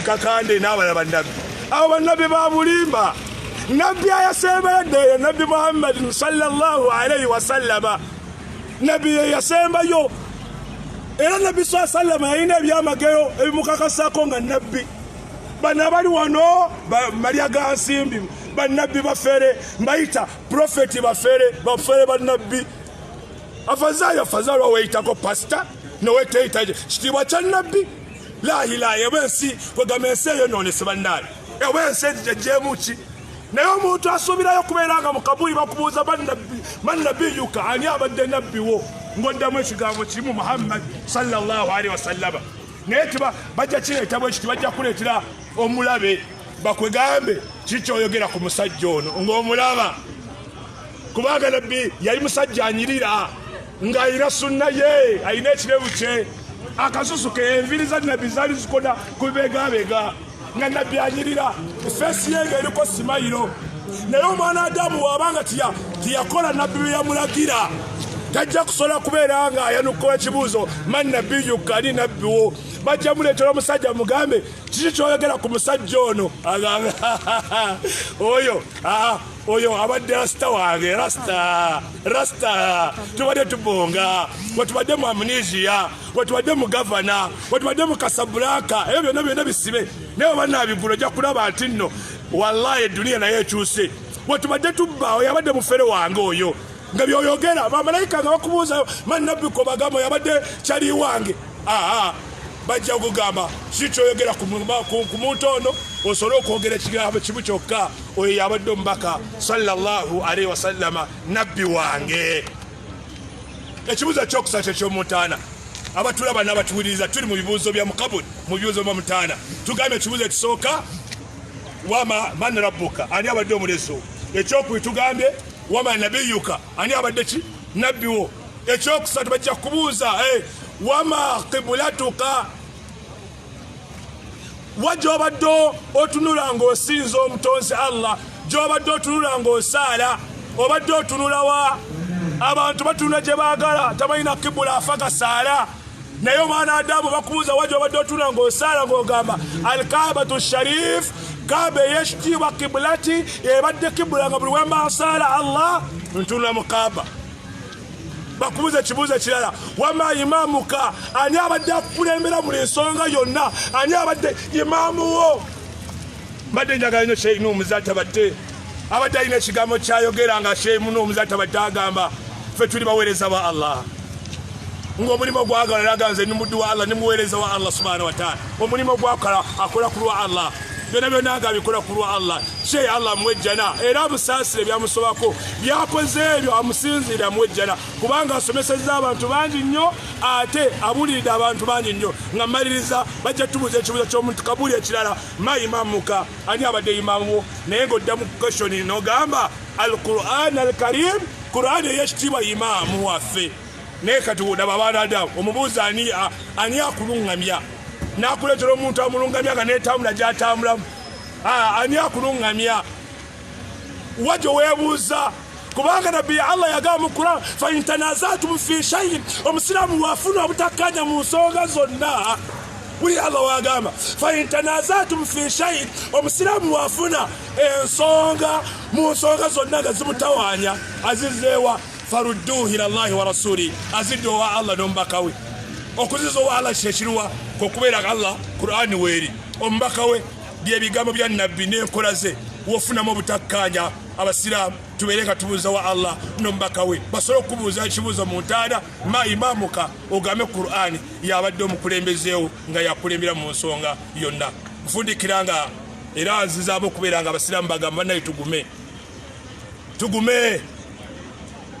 kakande n'abalala bannabbi abo bannabbi babulimba nabbi ayasemberedde eyo nabbi muhammadin salllahu alaihi wasallama nabbi yeyasembayo era nabbi saa sallama yalina ebyamagero ebimukakasako nga nabbi bano abali wano malya ga nsimbi bannabbi bafere mbayita profeti bafere bafere bannabbi afazaayo afazaalwa weyitako pasita noweteyitaje kitiibwa kya nabbi lahilahi eba ensi kwegamba ensi eyo nonese bannaali eba ensi egijejeemuki naye omuntu asuubirayo okubeera nga mukabuli bakubuuza bannabiyuka ani abadde nabbi wo ng'oddamu ekigambo kimu muhammadi salllahalihi wasallama naye tiba bajja kireeta bwe kiti bajja kuleetera omulabe bakwegambe kikyoyogera ku musajja ono ng'omulaba kubanga nabbi yali musajja anyirira ng'ayina sunna ye alina ekirevu kye akasusu ke enviri za nabbi zaali zikoda ku bibegabega nga nabbi anyirira feesi ye nga eriko simayiro naye omwana adamu waabanga tiyakola nabbi bye yamulagira tajja kusobola kubeera nga ayanukula ekibuuzo man nabiyu kali nabbiwo bajja muleetera omusajja mugambe kiki kyoyogera ku musajja ono agamba oyo oyo abadde rasita wange rasita rasita tubadde tubonga wetubadde mu amnesia wetubadde mu gavana wetubadde mu kasabulaka ebyo byonna byonna bisibe naye obanabigula ojja kulaba nti nno wallahi eduniya naye ekyuse wetubadde tubba oyo abadde mufere wange oyo nga byoyogera bamalayika nga bakubuuza manabbiko bagamba yabadde kyali wange aa bajja kugamba si kyoyogera ku muntu ono osobole okwogera ekigambo kimu kyokka oyo yabadde omubaka sallallahu alaihi wasallama nabbi wange ekibuzo kyokusa kyekyomutaana abatulaba nabatuwuliriza tuli mu bibuuzo bya mukabuli mu bibuuzo bya mutaana tugambye ekibuzo ekisooka wama man rabbuka ani abadde omulezi wo ekyokubiri tugambye wama nabiyuka ani abadde ki nabbi wo ekyokusatu bajja kubuuza eh, wama kibulatuka wa gyobadde otunula ng'osinza omutonzi allah gyobadde otunula ng'osaala obadde otunula wa abantu batunula gye baagala tabalina kibula afa gasaala naye omwana adamu bakubuuza wa gyobadde otunula ng'osaala ng'ogamba alkabatu sharif kaba eyekitiibwa kibulati ebadde kibula nga buli wemba asaala allah ntunula mu kaba bakubuza ekibuuzo ekirala wama imaamuka ani abadde akukulembera buli nsonga yonna ani abadde imaamuwo mbadde njagala nyo sheyi nomuza tabadde abadde alina ekigambo kyayogera nga sheyi muno omuza tabadde agamba fe tuli baweereza ba allah ngaomulimu gwagala naga nze nimuddu wa allah nimuweereza wa allah subhana wataala omulimu gwakola akola kulwa allah byona byona nga abikola ku lwa allah kye allah amuwa ejjana era amusaasire byamusobako byakoze ebyo amusinziire amuwa ejjana kubanga asomesezza abantu bangi nnyo ate abuliridde abantu bangi nnyo nga maliriza bajja tubuuza ekibuuzo kyomuntu kabuli ekirala ma imamuka ani abadde imamuwo naye ngaodda mu keshoni nogamba al quran al karim quran eyekitiibwa imaamu waffe naye kati olaba balada omubuuza ani ani akulungamya nakuletera omuntu amulungamya nga netambula gyatambulamu ani akulungamya wajo webuuza kubanga nabbi ya allah yagamba mu quran faintanazatumu fi shaiin omusiraamu wafuna obutakkanya mu nsonga zonna buli allah wagamba faintanazatumu fi shaiin omusiraamu wafuna ensonga mu nsonga zonna nga zimutawanya azizeewa farudduhu ila llahi wa rasuli azidde owa allah n'omubaka we okuziza owa allah kyekiruwa kwekubeera allah qurani weeri omubaka we byebigambo bya nabbi n'enkola ze wofunamu obutakkaanya abasiraamu tubeere nga tubuuza wa allah nomubaka we basobole okubuuza ekibuuzo mu ntaana ma imaamuka ogambe qurani yabadde omukulembezeewo nga yakulembera mu nsonga yonna nfundikira nga era nzizaamu okubeera nga abasiraamu bagamba naye tugume tugume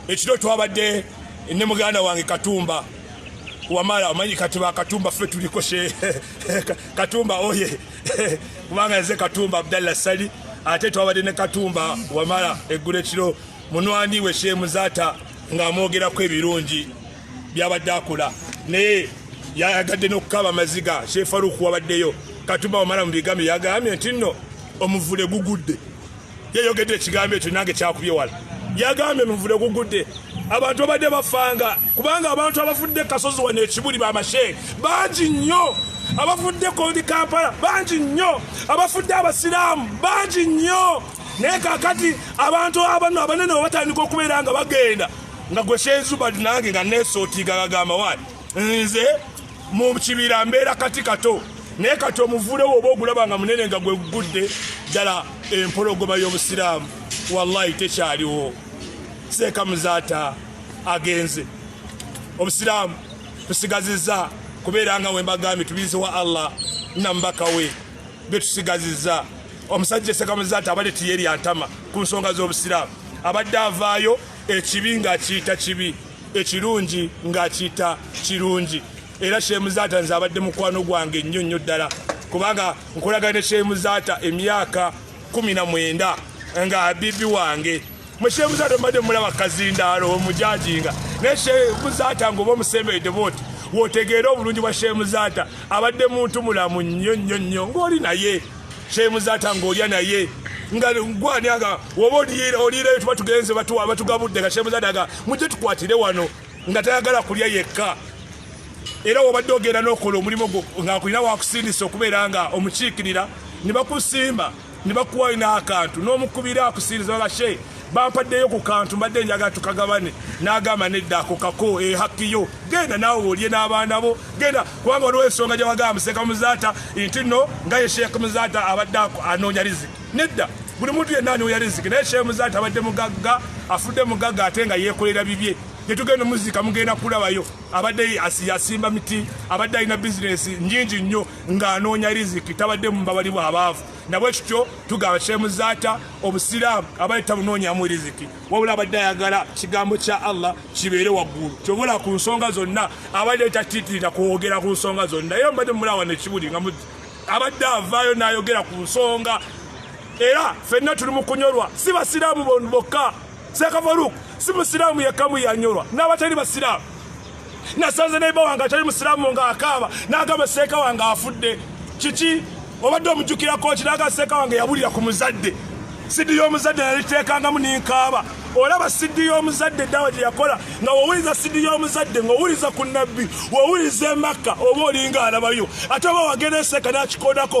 ekiro twabadde ne muganda wange katumba wamala omanyi kati bakatumba ffe tuliko she katumba oye kubanga nze katumba abdalla sali ate twabadde ne katumba wamala eggula ekiro munwani we shemuzaata ng'amwogerako ebirungi byabadde akola naye yayagadde n'okukaaba amaziga shefaruku wabaddeyo katumba wamala mu bigambo yagambye nti nno omuvule gugudde yayogedde ekigambo ekyo nange kyakubye wala yagambye nuvule gugudde abantu babadde bafanga kubanga abantu abafudde kasozi wano ekibuli bamasheeri bangi nnyo abafudde kondi kampala bangi nnyo abafudde abasiraamu bangi nnyo naye kakati abantu abano abanene webatandika okubeera nga bagenda nga gweseezubadi nange nga nesotiga gagamba wani nze mu kibira mbeera kati kato naye kati omuvule woba ogulaba nga munene nga gwe gugudde ddala empologoma y'obusiraamu wallahi tekyaliwo seeka muzaata agenze obusiraamu tusigaziza kubeera nga wembagambye tubize wa allah namubaka we betusigaziza omusajja seeka muzaata abadde tiyeri antama ku nsonga z'obusiraamu abadde avaayo ekibi ng'akiyita kibi ekirungi ng'akiyita kirungi era shemuzaata nze abadde mukwano gwange nnyo nnyo ddala kubanga nkolagana ne shemuzaata emyaka kumi na mwenda nga abibi wange mushemuzaata mbadde mulaba kazindaalo omujajinga naye shemuzaata ngaoba omusemberedde booti wotegeera obulungi bwa shemuzaata abadde muntu mulamu nnyo nnyo nnyo ng'oli naye kyemuzata ng'olya naye nga gwani aga oba oliirayo tuba tugenze batuwa batugabudde nga kyemuzata aga mujje tukwatire wano nga tayagala kulya yekka era wobadde ogenda n'okola omulimu gwo ng'akulina wakusindisa okubeera nga omukiikirira ne bakusimba ne bakuwayo n'akantu n'omukubira akusindiza nga she bampaddeyo ku kantu mbadde njaga tukagabane n'agamba nedda ako kako ehakkiyo genda naawe olye n'abaana bo genda kubanga waliwo ensonga gye wagamba museka muzaata nti nno nga ye sheekh muzaata abadde anoonya riziki nedda buli muntu yenna anoonya riziki naye sheekh muzaata abadde mugagga afudde mugagga ate nga yeekolera bibye gyetugenda omuzika mugenda kulabayo abadde yasimba miti abadde alina bizinesi nyingi nnyo ng'anoonya riziki tabadde mubabali bw'abaavu nabwe kityo tugamba Sheikh Muzaata obusiraamu abadde tabunoonyamu riziki wabula abadde ayagala kigambo kya Allah kibeere waggulu kyobula ku nsonga zonna abadde tatitirira kwogera ku nsonga zonna era mbadde mulawa nekibuli nga abadde avaayo n'ayogera ku nsonga era fenna tuli mu kunyolwa si basiraamu bokka Seka Farouk si musiraamu yekka mu yanyolwa n'abatali basiraamu. Nasanze neiba wange atali musiraamu nga akaaba n'agamba seeka wange afudde. Kiki obadde omujjukira kooki n'agamba seeka wange yabulira ku muzadde. Sidi y'omuzadde naliteekangamu n'enkaaba. Olaba sidi y'omuzadde daawa gye yakola nga wowuliza sidi y'omuzadde ng'owuliza ku nabbi wowuliza emakka oba olinga alabayo ate oba wagenda eseeka n'akikodako.